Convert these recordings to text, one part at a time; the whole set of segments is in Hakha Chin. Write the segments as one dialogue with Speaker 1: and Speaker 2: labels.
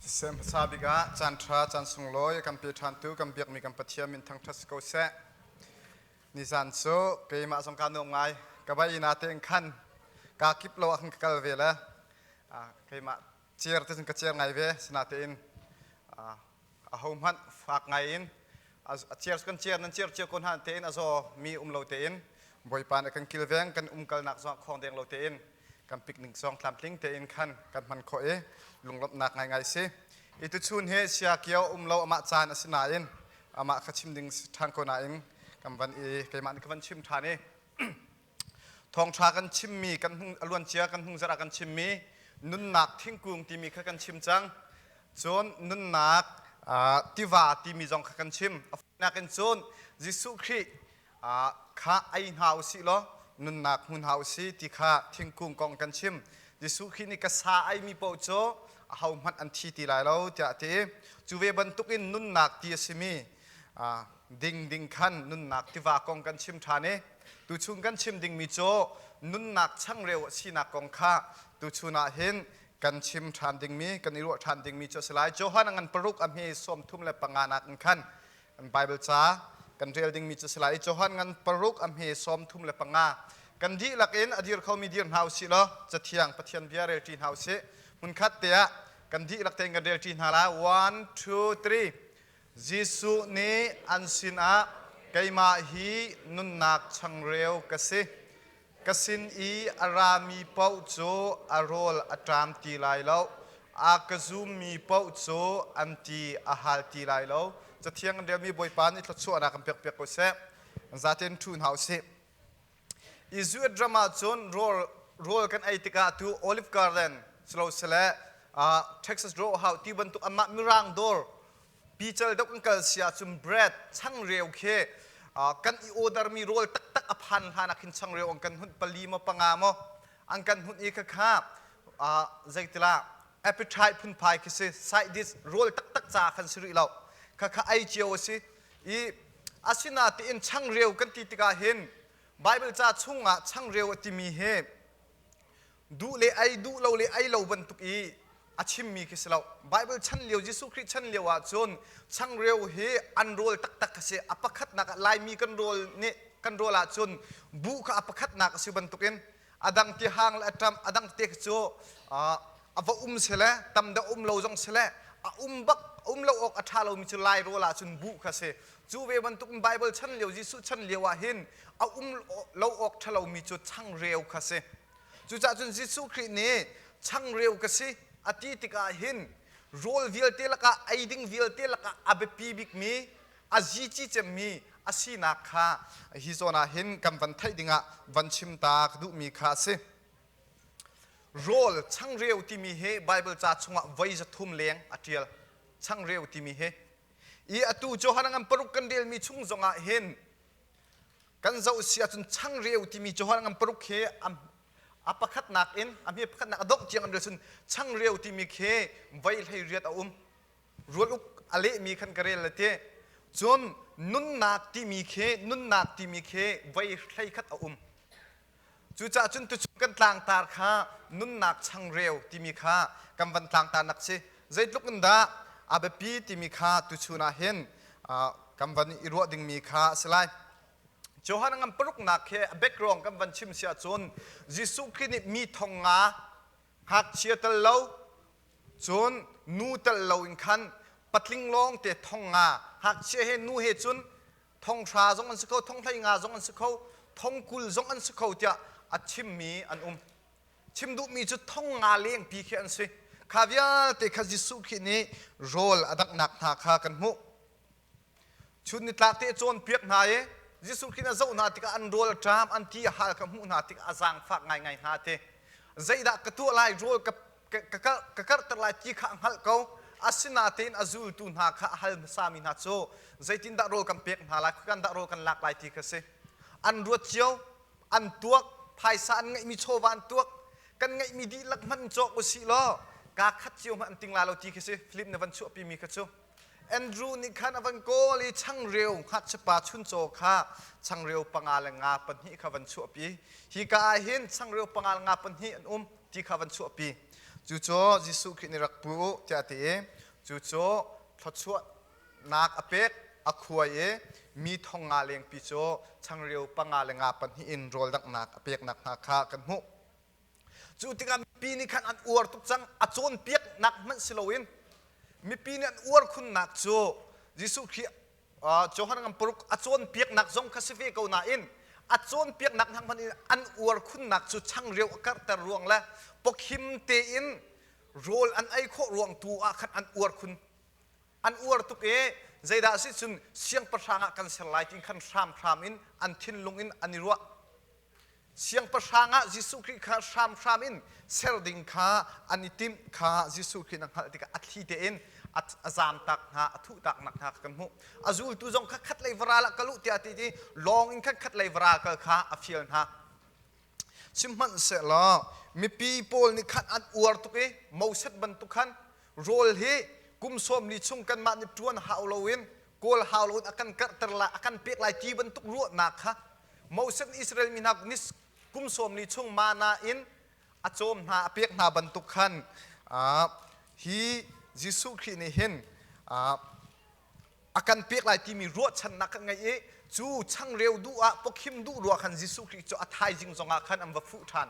Speaker 1: Siseh hmasa bik ah caanṭha caan sunglawi kan pe ṭhantu kan biakmi kan Pathian min thangṭhat si ko seh. Nizan cu keimah zong kaa nuam ngai. Ka vai ina te in khan kaa kip lo ah khan ka kal ve le keimah cer te cun ka cer ngai ve. Sinatein ahohmanh fak ngaiin a ciar kan ciar nan ciar cio ko hna tein a zaw mi um lo tein bawipa nih kan kilveng kan umkalnak zong khawng deng lo tein kan picnic zong tlamtling tein khan kan hman khawh i lunglawmhnak ngaingai si i tuchun he sia kio um lo amah caan a si nain amah kha chim ding ṭhang ko nain kan van i keimah nih ka van chim ṭhan i Thawngṭha kan chimmi, kan hung, a luancia kan hung zarh ah kan chimmi nunnak thingkung timi kha kan chim cang. Cun nunnak uh, tiva timi zong kha kan chim. A nakin cun Jesuh Khrih uh, kha ei hna u sih law nunnak hmu hna u si ti kha thingkung kong kan chim. Jesuh Khrih nih ka sa ei mi paoh cu ahohmanh an thi ti lai lo tiah a ti. Cu ve bantukin nunnak ti a simi uh, ding ding khan nunnak tiva kong kan chim ṭhan i Tuchun kan chim dingmi cu nunnak changreu a sinak kong kha tuchun ah hin kan chim ṭhan dingmi, kan i ruah ṭhan dingmi cu a si lai. Johan a ngan paruk a hme sawm thum le panga nak in khan kan Baibal ca kan rel dingmi cu a si lai. I Johan ngan paruk a hme sawm thum le panga kan dihlak in a dir khomi dir hna u sih law cathiang Pathian bia relṭi hna u sih. Hmunkhat te ah kan dihlak tein kan relṭi hna lai. One, two, three. Jesuh nih an sinah, Keimah hi nunnak changreu ka si, ka sin i a rami paoh cu a rawl a ṭam ti lai lo, a ka zummi paoh cu an ti a hal ti lai lo. Cathiang in relmi Bawipa nih thluachuahnak in pekpiak u sih. Zaten ṭhu hna u sih. Israel ram ah cun rawl rawl kan ei tikah tu olive garden silosile uh, Texas ro hau ti bantuk amah mirang dor pical dok an kal sia cun bread changreu khi uh, kan i ordermi rawl taktak a phan hlan ah khin changreu an kan hunt pali maw panga maw an kan hunt i khakha uh, zeitila appetite phunphai khi si side dish rawl taktak ca khan si rih lo khakha ai cio si i asinatein changreu kan ti tikah hin Baibal ca chungah changreu a timi hi duh le ei duh lo le ei lo bantuk i a chimmi khi si lo Baibal chan lio Jesuh Khrih chan lio ah cun changreu hi an rawl taktak a si a pakhatnak ah Laimi kan rawl nih kan rawl ahcun buh kha a pakhatnak a si bantukin a dang te hang le a ṭam a dang te cu a va um sele tam deuh um lo zong sele a um bak um lo awk a ṭha lomi cu lai rawl ah cun buh kha si cu ve bantuk in Baibal chan lio Jesuh chan lio ah hin a um lo awk ṭha lomi cu changreu kha si cucaah cun Jesuh Khrih nih changreu ka si a ti tikah hin rawl vialte lakah ei ding vialte lakah a biapi bikmi a zici cemmi a sinak kha hi zawn ah hin kan van theih dingah van chim ta ka duhmi kha a si. Rawl changreu timi hi Baibal ca chungah voi zathum leng a ṭial. Changreu timi hi. I atu Johan an paruk kan relmi chung zongah hin kan zoh si ahcun changreu timi Johan an paruk hi a pakhatnak in a hme pakhatnak a dongh tiang an rel chun changreu timi khi voi hlei riat a um. rual uk a lehmi khan ka rel le te cun nunnak timi khi nunnak timi khi voi hlei khat a um cucaah cun tuchun kan tlangtar kha nunnak changreu timi kha kan van tlangtarnak si zeitluk in dah a biapi timi kha tuchun ah hin kan van i ruah dingmi kha a si lai Johan ngam paruknak he a background kan van chim si ahcun Jesuh Khrih nih mi thong nga ngakchia tel lo Cun nu telh loin khan patling lawngte thong nga, hngakchia he nu he cun thong hra zong an si kho, thong hlei nga zong an si kho, thong kul zong an si kho tiah a chimmi an um. Chim duhmi cu thong nga lengpi khi an si. Kha vialte kha Jesuh Khrih nih rawl a daknak hna kha kan hmuh. Chun nitlak te cawnpiak hna i Jesuh Khrih na zoh hna tikah an rawl a ṭam, an ti a hal ka hmuh hna tikah a zaangfak ngaingai hna ti. Zeidah ka tuah lai, rawl ka, ka, ka, karh, ka karhter lai ti kha a hngalh ko. Asinain a zultu hna kha a hal hmasami hna cu zeitindah rawl kan pek hna lai, khuikan dah rawl kan lak lai ti kha si. An ruat cio, an tuak, phaisa an ngeihmi chawva an tuak, kan ngeihmi dihlak hmanh cawk usih law kaa khat cio hmanh an ting lai lo ti khi si. Film na van chuahpimi kha cu Andrew nih khan a van kawl i changreu ngakchiapa chuncaw kha changreu panga le nga pahnih kha van chuahpi. Hika ah hin changreu panga le nga pahnih an um ti kha van chuahpi. Cucu Jesuh Khrih nih rak pu u tiah a ti i cucu thluachuahnak a pek a khuai i mi thong nga lengpi cu changreu panga le nga pahnih in rawldanghnak a pek nakhnga kha kan hmuh. Cu tikah mipi nih khan an uar tuk cang. A cawnpiaknak hmanh si loin mipi nih an uar khunnak cu Jesuh Khrih Johan ngam paruk a cawnpiaknak zong kha si ve ko nain a cawnpiaknak hna hmanh in an uar khunnak cu changreu a karhter ruang le pawkhim tein rawl an ei khawh ruang tu ah khan an uar khun. An uar tuk i zeidah a si cun siangpahrang ah kan ser lai ti khan hramhram in an thinlung in an i ruah. Siangpahrang ah Jesuh Khrih kha hramhram in ser ding kha an i timh kha Jesuh Khrih na hngalh tikah a thli tein a zamtak hna, a thuhtaknak hna kha kan hmuh. A zultu zong kha khatlei varal ah ka luh tiah ti ti lawng in khan khatlei varal kal kha a fial hna. Sihmanhsehlaw mipi pawl nih khan an uar tuk i Moses bantuk khan rawl hi kum sawmli chung kanmah nih ṭuan hau loin kawl hau loin a kan karhter lai, a kan pek lai ti bantuk ruahnak kha Moses nih Israel mi hna ni kum sawm li chung mana in a cawm hna a pek hna bantuk khan hi Jesuh Khrih nih hin a kan pek lai timi ruahchannak kan ngei i cu changreu duh ah pawkhim duh ruah khan Jesuh Khrih cu a thaizing zongah khan an va fuh ṭhan.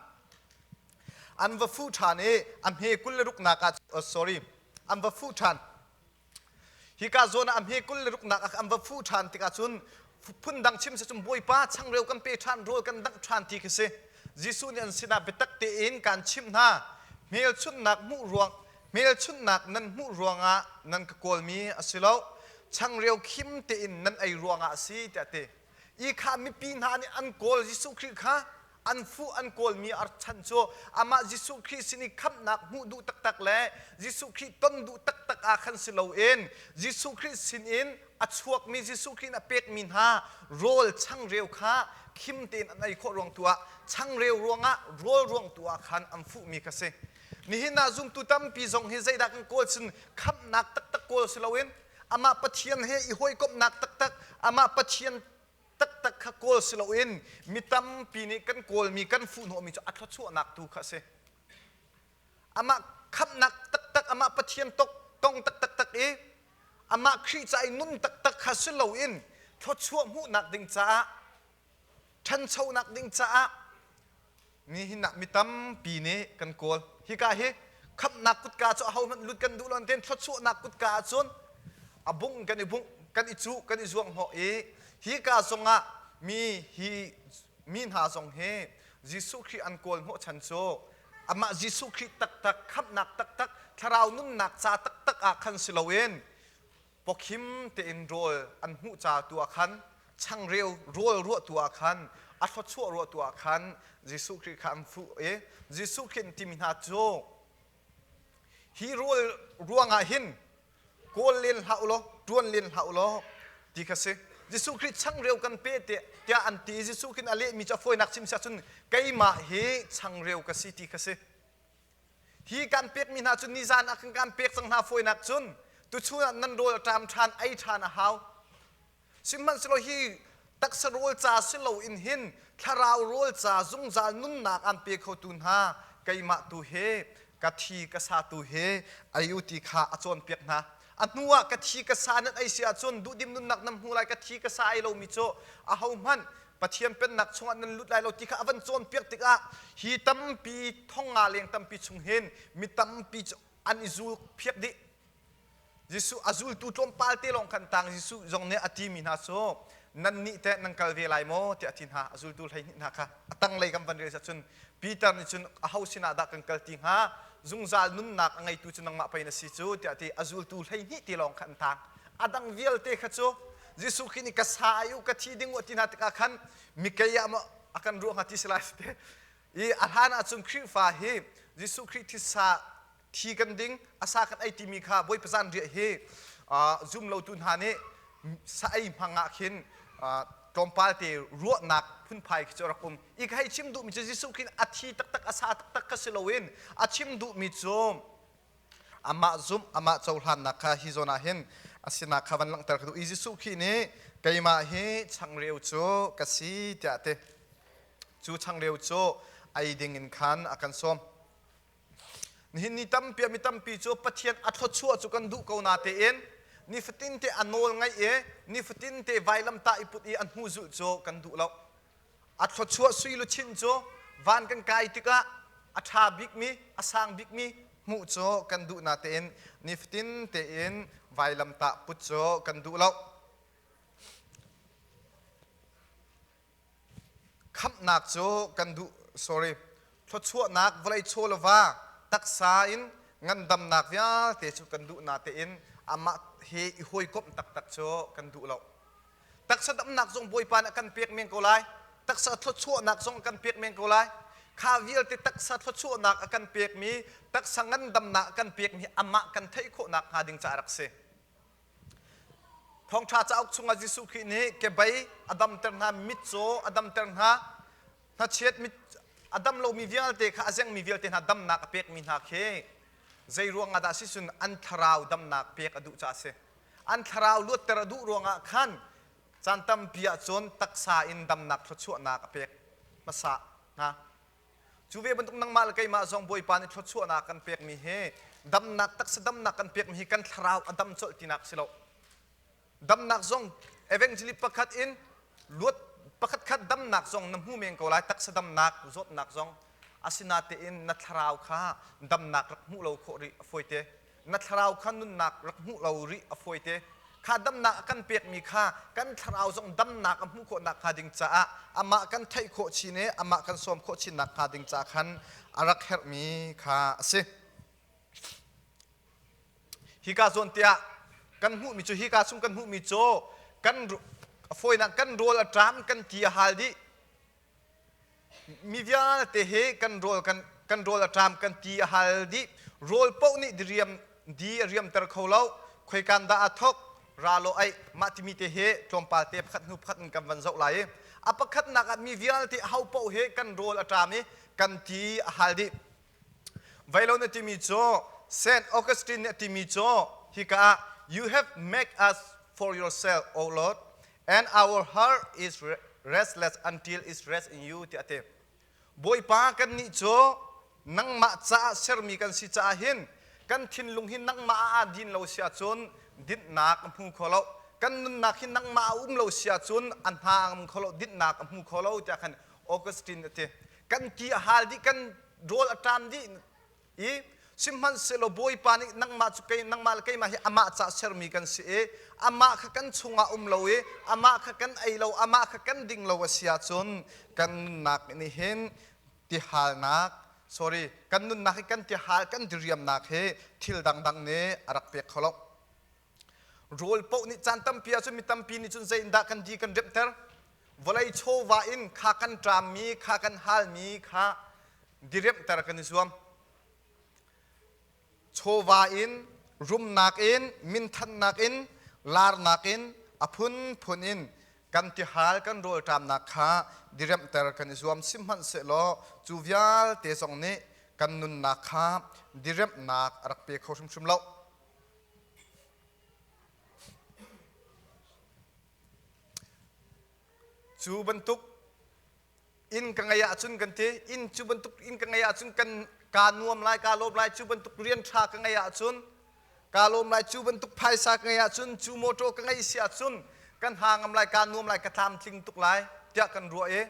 Speaker 1: An va fuh ṭhan i a hme kul le ruknak ah oh, sorry, an va fuh ṭhan. Hika zawn ah a hme kul le ruknak ah an va fuh ṭhan tikah cun phundang chim si cun Bawipa changreu kan pe ṭhan, rawl kan dangh ṭhan ti khi si. Jesuh nih an sinah biatak tein kaan chimh hna, hmelchunhnak hmuh ruang hmelchunhnak nan hmuh ruangah nan ka kawlmi a si lo, changreu khim tein nan ei ruangah a si, tiah a ti. Ikha mipi hna nih an kawl Jesuh Khrih kha an fuh an kawlmi archan cu amah Jesuh Khrih sin i khamhnak hmuh duh taktak le Jesuh Khrih ton duh taktak ah khan si loin Jesuh Khrih sinin a chuakmi Jesuh Khrih in a pekmi hna rawl changreu kha khim tein an ei khawh ruang tu ah changreu ruangah rawl ruang tu ah khan an fuhmi kha si. Nihin ah zumtu tampi zong hi zeidah kan kawl cun khamhnak taktak kawl si loin amah Pathian he i hawikomhnak taktak amah Pathian taktak kha kawl si loin mi tampi nih kan kawlmi kan fuhhnawhmi cu a thluachuahnak tu kha a si amah khamhnak taktak amah Pathian tong taktak tak i amah Khrih ca i nun taktak kha si loin thluachuah hmuhnak ding caah ṭhanchonak ding caah nihinnak mi tampi nih kan kawl hika hi khamhnak kutka cu ahohmanh lut kan duh lo tiin thluachuahnak kutka ahcun a bung kan i bungh kan i cuh kan i zuanghnawh i hika zongah mi hi mi hna zong hi Jesuh Khrih an kawl hnawh chan cu amah Jesuh Khrih taktak khamhnak taktak thlarau nunnak ca taktak ah khan si loin pawkhim tein rawl an hmuh ca tu ah khan changreu rawl ruah tu ah khan a thluachuah ruah tu ah khan Jesuh Khrih kha an fuh i Jesuh Khrih an timi hna cu hi rawl ruangah hin kawl len hlah u law ṭuan len hlah u law ti kha si Jesuh Khrih changreu kan pe te tiah an ti i Jesuh khin a lehmi cu a fawinak chim si ahcun keimah hi changreu ka si ti kha si Hi kan pekmi hna cu nizan ah kan kan pek cang hna fawinak cun tuchun ah nan rawl a ṭam ṭhan ei ṭhan a hau. Sihmanhsehlaw hi taksa rawl ca si loin hin thlarau rawl ca zungzal nunnak aan pe khotu hna keimah tu he ka thi ka sa tu he a u ti kha a cawnpiak hna. a hnu ah ka thi ka sa nan ei si ahcun duhdim nunnak nan hmu lai ka thi ka sa ai lomi cu ahohmanh Pathian pennak chungah nan lut lai lo ti kha a van cawnpiak tikah hi tampi thong nga leng tampi chung hin mi tampi cu an i zul phiak dih Jesuh a zultu tlawmpal te lawng khan tang Jesuh zong nih a timi hna cu nan nih teh nan kal ve lai maw tiah a ti hna a zultu hlei hnih hna kha a tanglei kan van rel cun Peter nih cun aho sinah dah kan kal ti hnga? Zungzal nunnak a ngeitu cu nangmah pei na si cu tiah ti a zultu hleihnih te lawng kha an tang. A dang vialte kha cu Jesuh Khrih nih ka sa ai u, ka thi ding u a ti hna tikah khan mikei ah maw a kan ruah hnga ti si lai ti i a hlan ah cun Khrihfa hi Jesuh Khrih thisa thi kan ding asa kan ei timi kha bawi pazan riah hi zum lotu hna nih sa-ei hmang ah khin tlawmpal te ruahnak phunphai khi cu rak um i ka hei chim duhmi cu Jesuh khin a thi taktak a sa taktak ka si loin a chim duhmi cu amah zumh amah cohlannak kha hi zawn ah hin a sinak kha van langhter ka duh i Jesuh khi nih keimah hi changreu cu ka si tiah ti cu changreu cu ei ding in khan a kan sawm Nihin ni tampi mi tampi cu Pathian a thluachuah cu kan duh ko natein nifatin te a nawl ngaih i nifatin te vailamtah i put i a hnu zulh cu kan duh lo. A thluachuah sui luchin cu van kan kai tikah a ṭha bikmi, a sang bikmi hmuh cu kan duh natein nifatin tein vailamtah put cu kan duh lo. Khamhnak cu kan duh sorry thluachuahnak vawlei chawlova taksa in ngandamnak vialte cu kan duh na tein amah he i hawikomh taktak cu kan duh lo. Taksa damnak zong Bawipa nih a kan pek men ko lai. Taksa thluachuahnak zong a kan pek men ko lai. Kha vialte taksa thluachuahnak a kan pekmi, taksa ngandamnak a kan pekmi amah kan theih khawh nakhnga ding caah rak si. Thawngṭha cauk chungah Jesuh Khrih nih kebei a damter hna, mitcaw a damter hna, hnachiat mit a dam lomi vialte kha a zengmi vialte hna damnak a pekmi hna khi zei ruangah dah a si cun an thlarau damnak pek a duh caah a si. An thlarau luatter a duh ruangah khan caan tampi ahcun taksa in damnak thluachuahnak a pek hmasa hna. Cu ve bantuk nangmah le keimah zong Bawipa nih thluachuahnak kan pekmi hi damnak taksa damnak kan pekmi hi kan thlarau a dam colh tinak si lo. Damnak zong evangelist pakhat in luat pakhat khat damnak zong na hmu men ko lai taksa damnak zawtnak zong asinatein na thlarau kha damnak rak hmuh lo khawh rih a fawi te na thlarau kha nunnak rak hmuh lo rih a fawite kha damnak a kan pekmi kha kan thlarau zong damnak a hmuh khawh nakhnga ding caah amah kan theih khawh chin i amah kan sawm khawh chin nakhnga ding caah khan a rak herhmi kha a si hika zawntiah kan hmuhmi cu hika chung kan hmuhmi cu kan fawinak kan rawl a ṭam kan ti a hal dih mi vialte he kan rawl kan kan rawl a ṭam kan ti a hal dih rawl paoh nih diriam di a riamter kho lo khoikan dah a thok ra law ai mah timi te he tlawmpal te pakhat hnu pakhat in kan van zoh lai i a pakhatnak ah mi vialte ho paoh he kan rawl a ṭam i kan ti a hal dih Vailon a timi cu Saint Augustine nih a timi cu hika ah you have make us for yourself O Lord and our heart is restless until it rests in you tiah a ti. Bawipa kan nih cu nangmah caah sermi kan si caah hin kan thinlung hi nangmah ah aa din lo si ahcun dinhnak a hmu kho lo. Kan nunnak hi nangmah a um lo si ahcun a hna a ngam kho lo, dinhnak a hmu kho lo tiah khan Augustine a ti. kan ki a hal dih kan rawl a ṭan dih i sihmanhsehlaw bawipa nih nangmah cu nangmah le keimah hi amah ca sermi kan si i amah kha kan chungah um lo i amah kha kan ei lo amah kha kan ding lo a si ahcun kan nunnak nih hin tihalnak sorry kan nunnak hi kan tiahal kan diriamnak hi thil dangdang nih a rak pek kho lo Rawl paoh nih caan tampi ah cun mi tampi nih cun zei in dah kan di kan remhter. Vawlei chawva in kha kan ṭammi, kha kan halmi kha diremhter kan i zuam. Chawva in, rumnak in, minthannak in, larnak in, a phunphun in kan tihal kan rawlṭamnak kha diremhter kan i zuam. Sihmanhsehlaw cu vialte zong nih kan nunnak kha diremhnak a rak pe kho hrimhrim lo. Cu bantuk inn ka ngeih ahcun kan ti inn cu bantuk inn ka ngeih ahcun kan kaa nuam lai kaa lawm lai cu bantuk rian ṭha ka ngeih ahcun kaa lawm lai cu bantuk phaisa ka ngeih ahcun cu motor ka ngeih si ahcun kan ha ngam lai kaa nuam lai ka tlamtling tuk lai tiah kan ruah i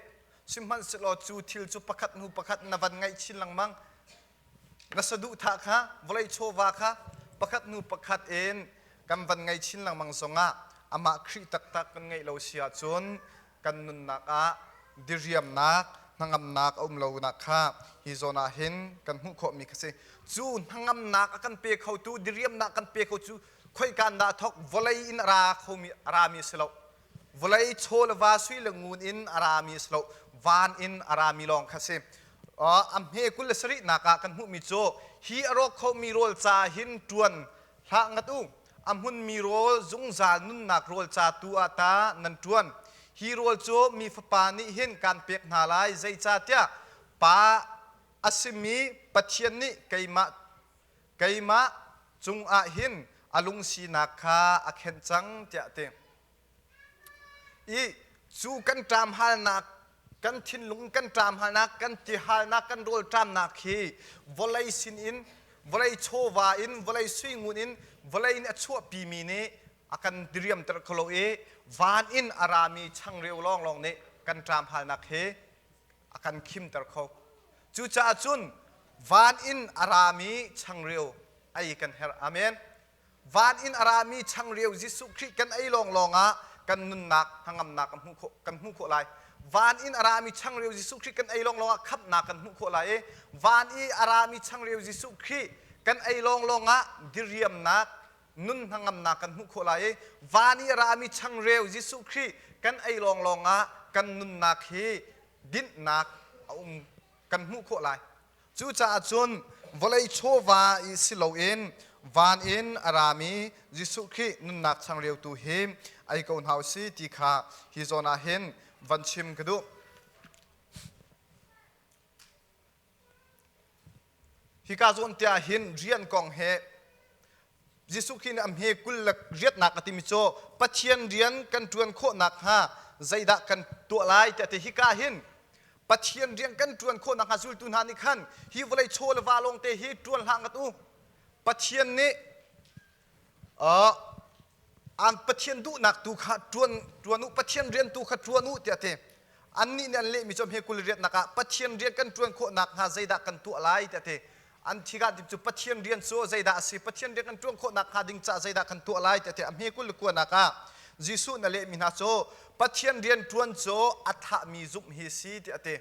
Speaker 1: sihmanhsehlaw cu thil cu pakhat hnu pakhat na van ngaih chin lengmang Na saduhthah kha vawlei chawva kha pakhat hnu pakhat in kan van ngei chin lengmang zongah amah Khrih taktak kan ngeih lo si ahcun kan nunnak ah diriamnak hnangamnak a um lonak kha hi zawn ah hin kan hmuh khawhmi kha si cu hnangamnak a kan pe khotu diriamnak kan pe kho cu khoikan dah thawk vawlei in a ra khomi a rami a si lo Vawlei chaw le va sui le ngun in a rami a si lo, van in a rami lawng kha a si. Uh, a hme kul le sarihnak ah kan hmuhmi cu hi a rawk khomi rawl ca hin ṭuan hlah ngat u. A hmunmi rawl zungzal nunnak rawl ca tu ah ta nan ṭuan. Hi rawl cu mi fapa nih hin kaan pek hna lai, zeicahtiah pa a simi Pathian nih keimah keimah cungah hin a lungsinak kha a khenh cang tiah a ti. I cu kan ṭam halnak kan thinlung kan ṭam halnak kan ti halnak kan rawl ṭamnak hi vawlei sinin vawlei chawva in vawlei suingun in vawlei nih a chuahpi mi nih a kan diriamter kho lo i van in a rami changreu lawnglawng nih kan ṭam halnak hi a kan khimter kho. Cucaah cun van in a rami changreu ei kan herh. Amen. Van in a rami changreu Jesuh Khrih kan ei lawnglawng ah kan nunnak hnangamnak kan hmuh khawh, kan hmuh khawh lai. Van in a rami changreu Jesuh Khrih kan ei lawnglawng ah khamhnak kan hmuh khawh lai i van i a rami changreu Jesuh Khrih kan ei lawnglawng ah diriamnak nun hnangamnak kan hmuh khawh lai i van i a rami changreu Jesuh Khrih kan ei lawnglawng ah kan nunnak hi dinhnak a um kan hmuh khawh lai. Cucaah cun vawlei chawva i si loin van in a rami Jesuh Khrih nunnak changreu tu hi ei ko hna u si ti kha hi zawn ah hin van chim ka duh. Hika zawn te ah hin rian kong he Jesuh Khrih nih a hme kul le riatnak a timi cu Pathian rian kan ṭuan khawh nakhnga zeidah kan tuah lai tiah te hika hin Pathian rian kan ṭuan khawh nakhnga zultu hna nih khan hi vawlei chaw le va lawngte hi ṭuan hlah ngat u. Pathian nih an Pathian duhnak tu kha ṭuan u Pathian rian tu kha ṭuan u tiah a ti annih nih an lehmi cu hme kul i riatnak ah Pathian rian kan ṭuan khawh nakhnga zeidah kan tuah lai tiah a ti an thigahdip cu Pathian rian cu zeidah a si Pathian rian kan ṭuan khawh nakhnga ding caah zeidah kan tuah lai tiah a ti a hme kul le kuanak ah Jesuh nih a lehmi hna cu Pathian rian ṭuan cu a thahmi zumh hi si tiah a ti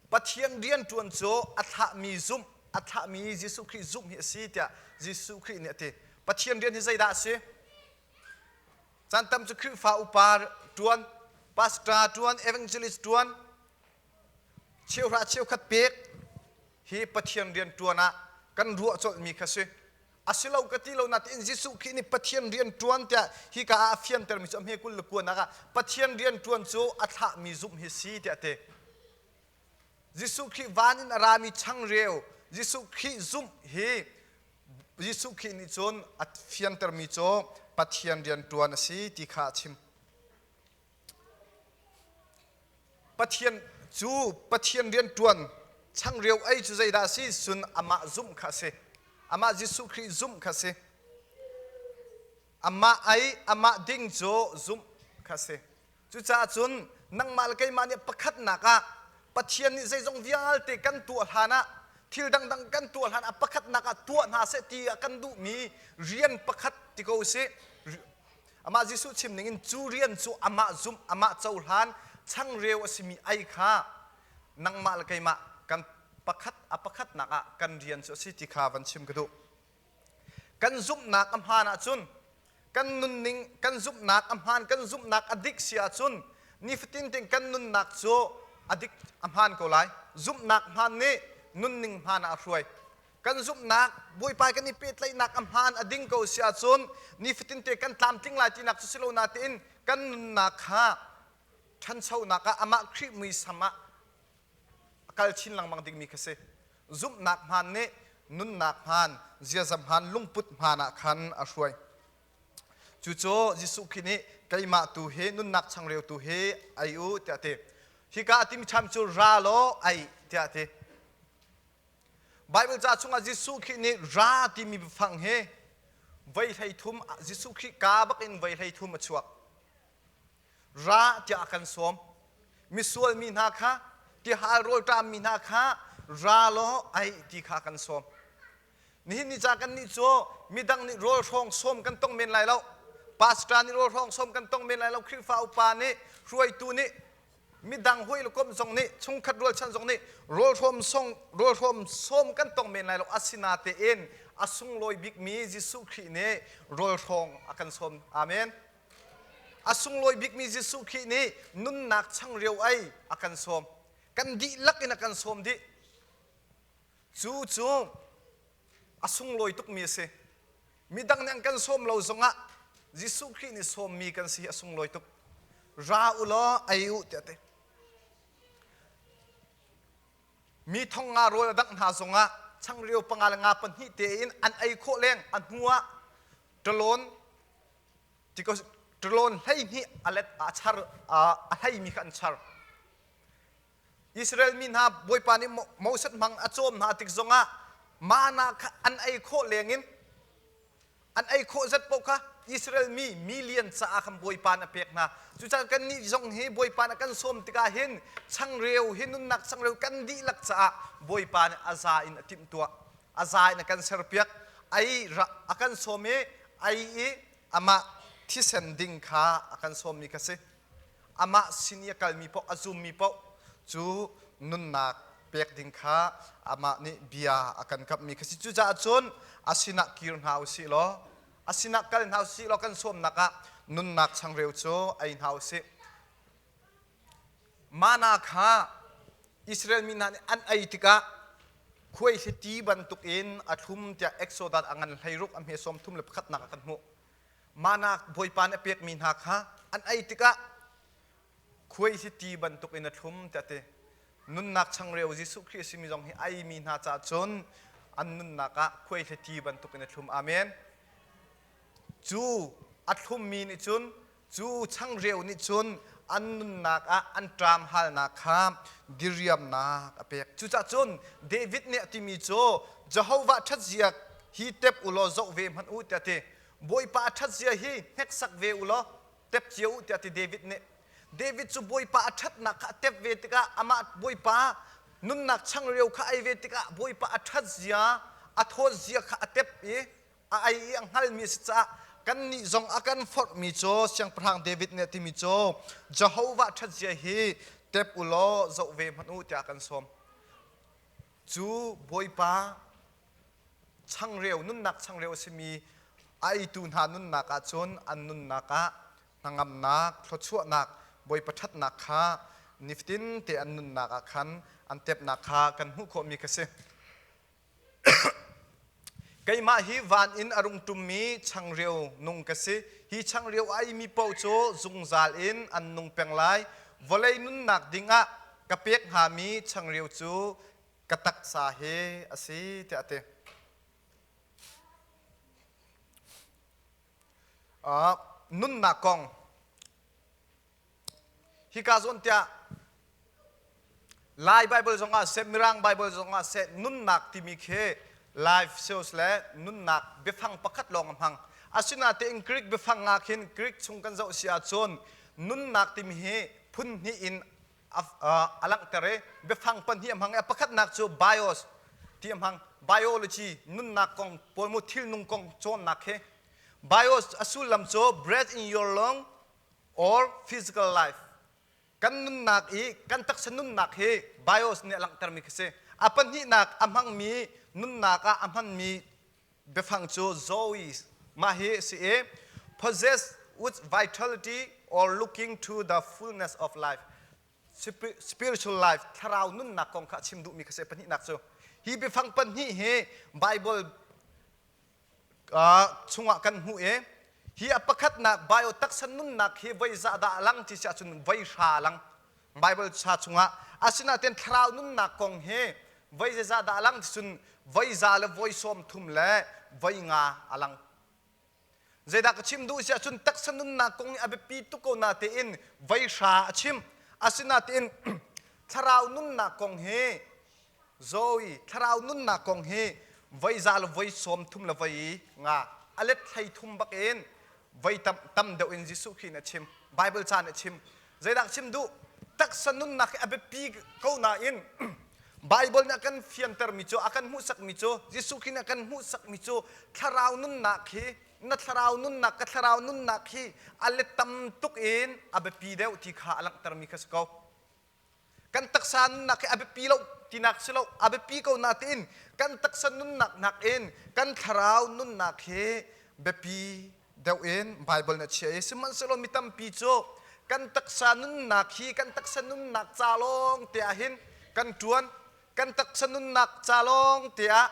Speaker 1: Pathian rianṭuan cu a thlahmi zumh, a thlahmi Jesuh Khrih zumh hi a si tiah Jesuh Khrih nih a ti. Pathian rian hi zeidah a si? Caan tam cu Khrihfa upa ṭuan, pastor ṭuan, evangelist ṭuan, cheuhra cheukhat pek hi Pathian rianṭuan ah kan ruah colhmi kha si. a si lo ka ti lo natin Jesuh Khrih nih Pathian rian ṭuan tiah hika ah a fiantermi cu a hme kul le kuanak ah Pathian rian ṭuan cu a thlahmi zumh hi si tiah a ti. Jesuh Khrih van in a rami changreu Jesuh Khrih zumh hi Jesuh Khrih nih cun a fiantermi cu Pathian rian ṭuan a si ti kha a chim. Pathian cu Pathian rianṭuan changreu ei cu zeidah a si? Cun amah zumh kha a si. Amah Jesuh Khrih zumh kha a si. Amah ei, amah ding cu zumh kha a si. Cucaah cun nangmah le keimah nih pakhatnak ah Pathian nih zeizong vialte kan tuah hlanah thil dangdang kan tuah hlanah pakhatnak ah tuah hna seh ti a kan duhmi rian pakhat ti ko u sih. Amah Jesuh chim ning in cu rian cu amah zumh, amah cohlan, changreu a simi ei kha nangmah le keimah kan pakhat a pakhatnak ah kan rian cu a si ti kha van chim ka duh. Kan zumhnak a hmaan ahcun, kan nunning, kan zumhnak a hmaan, kan zumhnak a dik si ahcun, nifatin ting kan nunnak cu a dik, a hmaan ko lai. Zumhnak hmaan nih nunning hmaan ah a hruai. Kan zumhnak, Bawipa kan i pehtlaihnak a hmaan a ding ko a si ahcun nifatinte kan tlamtling lai tinak cu si lo natein kan nunnak kha ṭhanchonak ah amah Khrih muisam ah a kal chin lengmang dingmi kha si. Zumhnak hmaan nih nunnak hmaan, ziaza hmaan, lungput hmaan ah khan a hruai. Cucu Jesuh Khrih nih keimah tu hi nunnak changreu tu hi ei u tiah a ti. Hika a timi ṭham cu ra law ei tiah a ti. Baibal ca chungah Jesuh Khrih nih ra timi biafang hi voi hleithum Jesuh Khrih ka bak in voi hleithum a chuak. Ra tiah a kan sawm. Misual mi hna kha tihal rawlṭam mi hna kha ra law ai ti kha kan sawm. Nihin ni ca kan nih cu midang nih rawl hrawng sawm kan tong men lai lo. Pastor nih rawl hrawng sawm kan tong men lai lo. Khrihfa upa nih hruaitu nih midang hoi lokom zong nih chungkhat rualchan zong nih rawlhrawm song rawlhrawm sawm kan tong men lai lo asina tein a sunglawi bikmi Jesuh Khrih nih rawlhrawng a kan sawm amen a sunglawi bikmi Jesuh Khrih nih nunnak changreu ai a kan sawm kan dihlak in a kan sawm dih cu cu a sunglawi tukmi a si. Midang nih an kan sawm lo zongah Jesuh Khrih nih sawmmi kan si hi a sunglawi tuk. Ra u law ei u tiah ti. Mi thong nga rawl a dangh hna zongah changreu panga le nga pahnih tein an ei khawh leng a hnu ah ṭalon ṭalon hleihnih a let a char a hleimi kha an char. Israel mi hna Bawipa nih Moses hmang a cawm hna tik zongah mana kha an ei khawh lengin an ei khawh zat paoh kha Israel mi million caah khan Bawipa nih a pek hna. Cucaah kannih zong hi Bawipa nih kan sawm tikah hin changreu hi nunnak changreu kan dihlak caah Bawipa nih a za in a timhtuah. A za in a kan serpiak. Ei a kan sawm i ei i amah thisen ding kha a kan sawmmi kha si. amah sin i a kalmi paoh a zummi paoh cu nunnak pek ding kha amah nih bia a kan kamhmi kha si cucaah cun a sinah kir hna u sih law a sinah kal hna u sih law kan sawmnak ah nunnak changreu cu ei hna u sih mana kha Israel mi hna nih an ei tikah khuaihliti bantukin a thlum tiah Exodus a ngan hlei ruk a hme sawm thum le pakhatnak ah kan hmuh Mahnak Bawipa nih a pekmi hna kha an ei tikah khuai hi ti bantuk in a thlum tiah ti. Nunnak changreu Jesuh Khrih a simi zong hi a eimi hna caah cun an nunnak ah khuai hi ti bantuk in a thlum. Amen. Cu a thlummi nih cun Cu changreu nih cun an nunnak ah an ṭam halnak kha diriamnak a pek. Cucah cun David nih a timi cu Jehovah ṭhatzia hi tep u law zoh ve hmanh u tiah a ti. Bawipa a ṭhatzia hi hneksak ve u law tep cio u tiah a ti David nih. David cu Bawipa a ṭhatnak kha a tep ve tikah amah Bawipa nunnak changreu kha ei ve tikah Bawipa a ṭhatzia, a thawtzia kha a tep i a ei i a hngalmi a si caah kannih zong a kan forhmi cu siangpahrang David nih a timi cu Jehovah ṭhatzia hi tep u law zoh ve hmanh u tiah a kan sawm. Cu Bawipa changreu nunnak changreu a simi a eitu hna nunnak ah cun an nunnak ah hnangamnak, thluachuahnak, Bawipa ṭhatnak kha niftin te an nunnak ah khan an tepnak kha kan hmuh khawhmi ka si. Keimah hi van in a rung ṭummi changreu nung ka si. Hi changreu a imi paoh cu zungzal in an nung peng lai. Vawlei nunnak dingah ka pek hngami changreu cu ka taksa he a si tiah a ti. Uh, nunnak kong Hika zawn tiah Lai Bible zongah seh Mirang Bible zongah seh nunnak timi khi life sales le nunnak biafang pakhat lawng a hmang. Asinatein Greek biafang ngah khin Greek chung kan zoh si ahcun nunnak timi hi phun hnih in a langhter i biafang pahnih a hmang i pakhatnak cu bios ti a hmang. Biology nunnak kong pawl mu thilnung kong cawnnak hi bios a sullam cu breath in your lung or physical life. Kan nunnak i kan taksa nunnak hi bios nih a langhtermi khi si. A pahnihnak a hmangmi nunnak ah a hmanmi biafang cu Zoe mah hi a si i possess with vitality or looking to the fullness of life Spir- spiritual life thlarau nunnak kong kha a chim duhmi khi si pahnihnak cu hi biafang pahnih hi Bible chungah kan hmuh i hi a pakhatnak biotaksa nunnak hi voizah dah a lang ti si ahcun voihra a lang Baibal sa chungah asinain thlarau nunnak kong hi voi zeizah dah a lang ticun voiza le voi sawm thum le voi nga a lang zeidah ka chim duh si ahcun taksa nunnak kong i a biapi tuk ko na tein voihra a chim asinain thlarau nunnak kong hi Zoe thlarau nunnak kong hi voiza le voi sawm thum le voi i nga a let hlei thum bak in voi tam, tam deuh in Jesuh Khrih nih a chim Bible caan nih a chim zeidah chim duh taksa nunnak hi a biapi ko nain Bible nih a kan fiantermi cu a kan hmuhsakmi cu Jesuh Khrih nih a kan hmuhsakmi cu thlarau nunnak hi na thlarau nunnak ka thlarau nunnak hi a let tam tuk in a biapi deuh ti kha a langhtermi kha si ko kan taksa nunnak hi a biapi lo tinak si lo a biapi ko natein kan taksa nunnak nakin kan thlarau nunnak hi biapi deuh in Bible nih a chia i sihmanhsehlaw mi tampi cu kan taksa nunnak hi kan taksa nunnak ca lawng te ah hin kan ṭuan kan taksa nunnak ca lawng te ah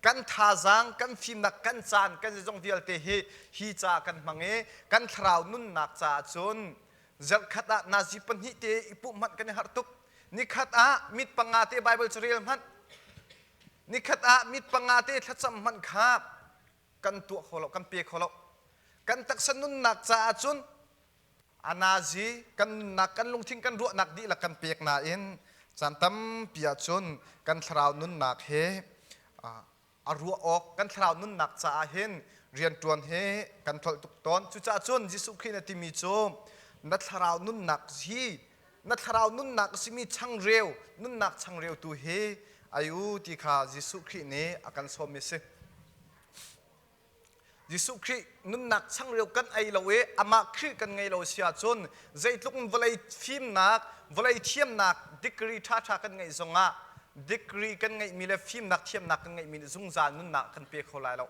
Speaker 1: kan thazaang kan fimnak kan caan kan zeizong vialte hi hi ca kan hmang i kan thlarau nunnak caah cun zarhkhat ah nazi pahnih te i puh hmanh kan i harh tuk nikhat ah mit panga te Bible cu rel hmanh nikhat ah mit panga te thlacam hmanh kha kan tuah kho lo kan pe kho lo kan taksa nunnak caah cun A nazi kan nunnak kan lungthin kan ruahnak dihlak kan pek nain caan tampi ahcun kan thlarau nunnak he a ruah awk kan thlarau nunnak caah hin rianṭuan he kan tlolh tuk tawn. Cucaah cun Jesuh Khrih na timi cu na thlarau nunnak hi na thlarau nunnak a simi changreu nunnak changreu tu hi ai u ti kha Jesuh Khrih nih a kan sawmmi a si. Jesuh Khrih nunnak changreu kan ei lo i amah Khrih kan ngei lo si ahcun zeitluk in vawlei fimnak, vawlei thiamnak degree ṭhaṭha kan ngeih zongah degree kan ngeihmi le fimnak thiamnak kan ngeihmi nih zungzal nunnak kan pe kho lai lo.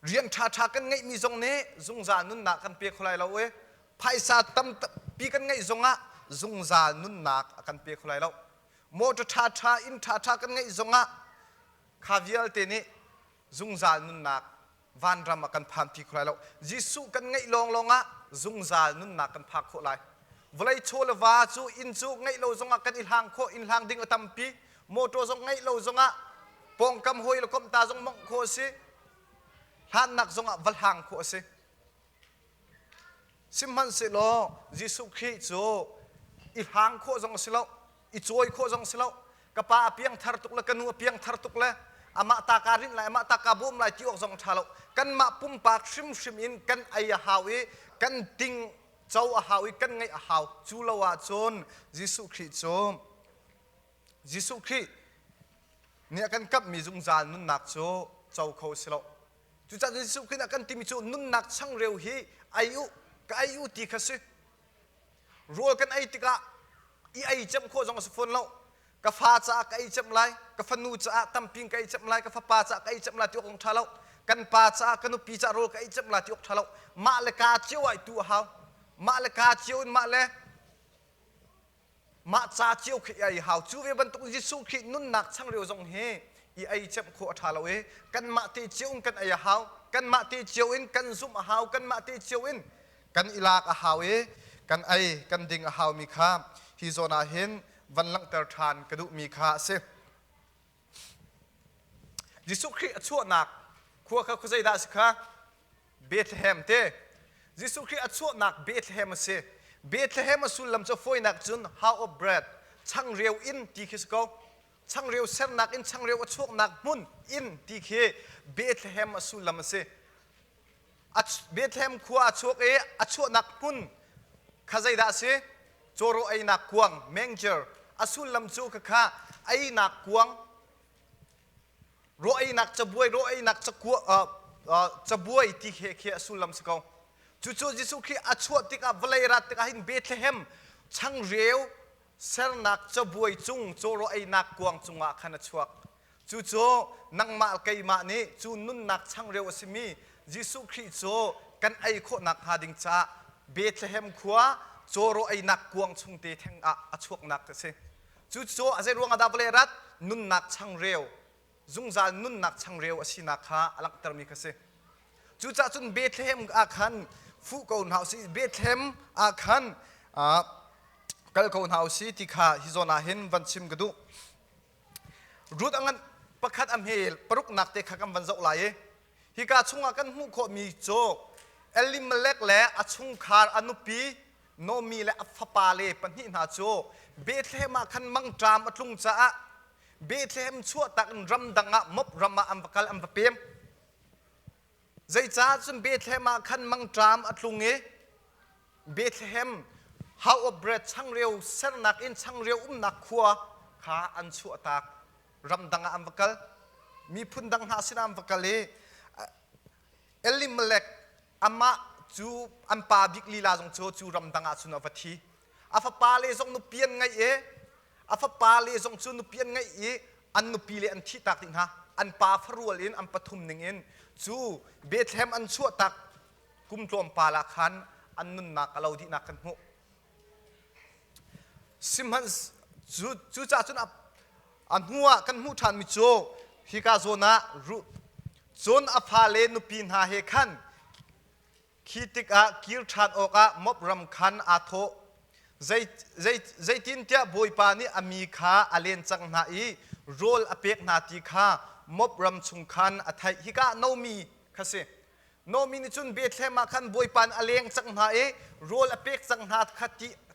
Speaker 1: Rian ṭhaṭha kan ngeihmi zong nih zungzal nunnak kan pe kho lai lo i phaisa tampi kan ngeih zongah zungzal nunnak a kan pe kho lai lo. Motor ṭhaṭha, inn ṭhaṭha kan ngeih zongah Kha vialte nih zungzal nunnak vanram ah kan phanpi kho lai lo. Jesuh kan ngeih lawnglawng ah zungzal nunnak kan phak khawh lai. Vawlei chaw le va cu inn cu ngeih lo zongah kan i hlang khawh, inn hlang ding a tampi. Mawṭaw zong ngeih lo zongah pawngkam hawi le komh ta zong mawngh khawh a si. Hlannak zongah va hlang khawh a si. Sihmanhsehlaw Jesuh Khrih cu i hrang khawh zong a si lo, i cawi khawh zong a si lo. Ka pa a piangthar tuk le ka nu a piangthar tuk le amah ta kaa rinh lai, amah ta kaa bawm lai ti awk zong a ṭha lo. Kanmah pumpak hrimhrim in kan ei a hau i kan ting co a hau i kan ngaih a hau. Cu lo ahcun Jesuh Khrih cu Jesuh Khrih nih a kan kamhmi zungzal nunnak cu co kho a si lo. Cucaah Jesuh Khrih ah kan timi cu nunnak changreu hi ei u, ka ei u ti kha si. Rawl kan ei tikah i ei cem khawh zong a si fawn lo. Ka fa caah ka ei cem lai, ka fanu caah tampi in ka ei cem lai, ka fapa caah ka ei cem lai ti awk a ṭha lo. Kan pa caah, ka nupi caah rawl ka ei cem lai ti awk ṭha lo. Mah le kaa cio ah i tu a hau. Mah le kaa cio in mah le Mah ca cio khi i hau. Cu ve bantuk Jesuh khi nunnak changreu zong hi i ei cemh khawh a ṭha lo i kanmah te cio in kan ei a hau. Kanmah te cio in kan zumh a hau. Kanmah te cio in kan i lak a hau i kan ei kan ding a haumi kha hi zawn ah hin van langhter ṭhan ka duhmi kha a si. Jesuh Khrih a chuahnak khua kha zeidah a si kha Bethlehem te Jesuh Khrih a chuahnak Bethlehem a si Bethlehem a sullam cu foinak cun house of bread changreu in ti khi si ko changreu sernak in changreu a chuaknak hmun in ti khi Bethlehem a sullam a si Bethlehem khua a chuak i a chuahnak hmun kha zeidah a si? Cawrawh einak kuang, manger, a sullam cu khakha einak kuang, rawh einak cabuai, rawh einak cabuai ti khi a sullam si ko. Cucu Jesuh Khrih a chuah tikah vawlei rat tikah hin Bethlehem changreu sernak cabuai cung cawrawh einak kuang cungah khan a chuak. Cucu nangmah keimah nih cu nunnak changreu a simi Jesuh Khrih cu kan ei khawh nakhnga ding caah Bethlehem khua cawraw einak kuang chungte theng ah a chuaknak a si. Cucu a zei ruangah dah vawlei rat nunnak changreu, zungzal nunnak changreu a sinak kha a langhtermi kha si. Cucaah cun Bethlehem ah khan fu ko hna u sih, Bethlehem ah khan kal ko hna u sih ti kha hi zawn ah hin van chim ka duh. Ruth a ngan pakhat a hme paruknak te kha kan van zoh lai i hika chungah kan hmuh khawhmi cu Elimelek le a chungkhar a nupi Naomi le a fapale pahnih hna cu Bethlehem ah khan mangṭam a tlung caah Bethlehem chuahtak in ramdang ah mop ram ah an va kal an va pem. Zeicah cun Bethlehem ah khan mangṭam a tlung i Bethlehem House of Bread changreu sernak inn changreu umnak khua kha an chuahtak. Ramdang ah an va kal. Miphun dang hna sinah an va kal i Elimelek amah cu an pa bik lila zong cu cu ramdang ah cun a va thi. A fapale zong nupi an ngeih i A fapa le zong cu nupi an ngeih i an nupi le an thihtak dih hna. An pa farual in an pathum ningin cu Bethlehem an chuahtak kum tlawmpal ah khan an nunnak a lo dihnak kan hmuh. Sihmanh cu cucah cun a, a hnuah kan hmuh ṭhanmi cu hika zawn ah Ruth cun a fale nupi hna he khan Khi tikah kir ṭhan awkah Moab ram khan aa thawh. Zeitintiah Bawipa nih a mi kha a len cang hna i rawl a pek hna ti kha Moab ram chung khan a theih. Hika ah Naomi kha si. Naomi nih cun Bethlehem ah khan Bawipa nih a leng cang hna i rawl a pek cang hna kha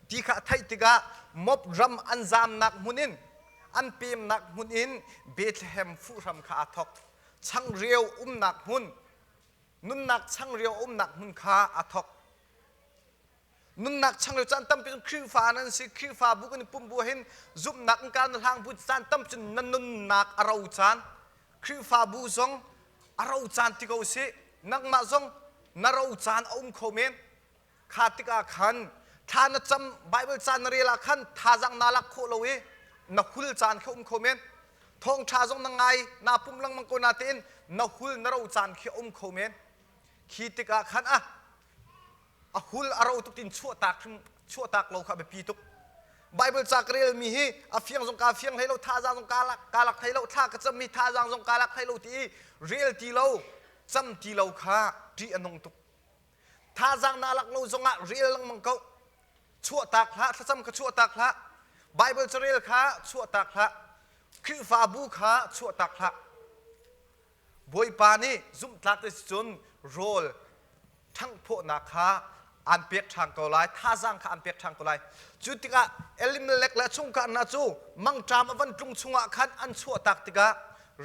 Speaker 1: ti kha a theih tikah Moab ram an zamnak hmun in an pemnak hmun in Bethlehem fuhram kha aa thawk. Changreu umnak hmun, nunnak changreu a umnak hmun kha a thawk. Nunnak changreu caan tampi cun Khrihfa nan si Khrihfabu kan i pumbu hin zumhnak in kan hlang bu caan tampi cun nan nunnak a ro caan Khrihfabu zong a ro caan ti ko sih nangmah zong na ro caan a um kho men Kha tikah khan thla na cam Baibal caan na rel ah khan thazang naa lak khawh lo i na hul caan kha um kho men. Thawngṭha zong na ngai naa pum lengmang ko na tein na hul na ro caan khi um kho men. Khi tikah khan a a hul a ro tuk tin chuahtak chuahtak lo kha a biapi tuk. Baibal ca ka relmi hi a fiang zong kaa fiang hlei lo thazang zong kaa lak kaa lak hlei lo thla ka cammi thazang zong kaa lak hlei lo ti i rel ti lo cam ti lo kha ṭih a nung tuk. Thazaang na lak lo zongah rel lengmang ko. Chuahtak hlah, thlacam kha chuahtak hlah. Baibal carel kha chuahtak hlah. Khrihfabu kha chuahtak hlah. Bawipa nih zumhtlak ti cun rawl ṭhangphawhnak kha aan pek ṭhan ko lai. Thazaang kha aan pek ṭhan ko lai. Cu tikah Elimelek le chungkar hna cu mangṭam a van tlung chungah khan an chuahtak tikah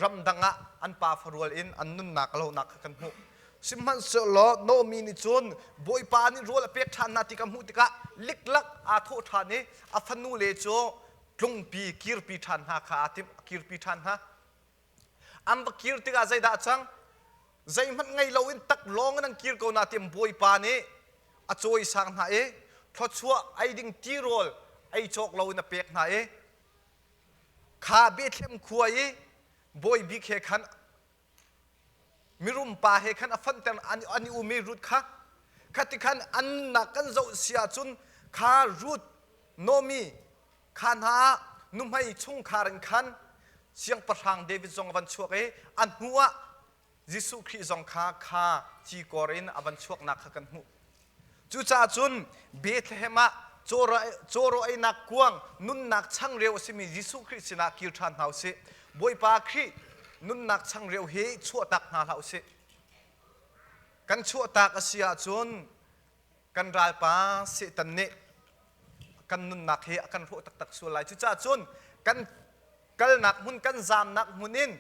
Speaker 1: ramdang ah an pa farual in an nunnak a lohnak kha kan hmuh. Sihmanhsehlaw Noemi nih cun Bawipa nih rawl a pek ṭhan hna ti ka hmuh tikah liklak aa thawh ṭhan i a fanule cu tlungpi kirpi ṭhan hna kha aa timh, kirpi ṭhan hna. An va kir tikah zeidah a cang? Zeihmanh ngei loin tak lawng in an kir ko na tiam Bawipa nih a cawi sang hna i thluachuah ei ding tirawl ei cawk loin a pek hna i kha Bethlehem khua i bawi bik he khan mirum pa he khan a fanter an i um i Ruth kha khati khan an nak kan zoh si ahcun kha Ruth Nomi kha hna nuhmei chungkhar in khan siangpahrang David zong a van chuak i a hnu ah Jesuh Khrih zong kha kha cikor in a van chuaknak kha kan hmuh Cucaah cun Bethlehem ah cawraweinak kuang nunnak changreu a simi Jesuh Khrih sinah kir ṭhan hna u sih. Bawipa Khrih nunnak changreu hi chuahtak hna hlah u sih. Kan chuahtak a si ahcun kan ralpa Satan nih kan nunnak hi a kan hrawh taktak sual lai. Cucaah cun kan kalnak hmun, kan zaamnak hmun in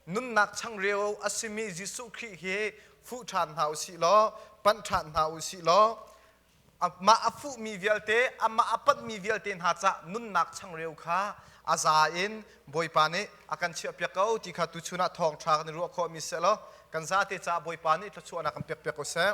Speaker 1: nunnak changreu a simi Jesuh Khrih hi fuh ṭhan hna u sih law panh ṭhan hna u sih law amah a fuhmi vialte amah a panhmi vialte hna cah nunnak changreu kha a za in Bawipa nih a kan chiahpiak ko ti kha tuchun ah thawng ṭha kan i ruah khawhmi si law kan zate caah Bawipa nih thluachuahnak kan pekpiak ko seh.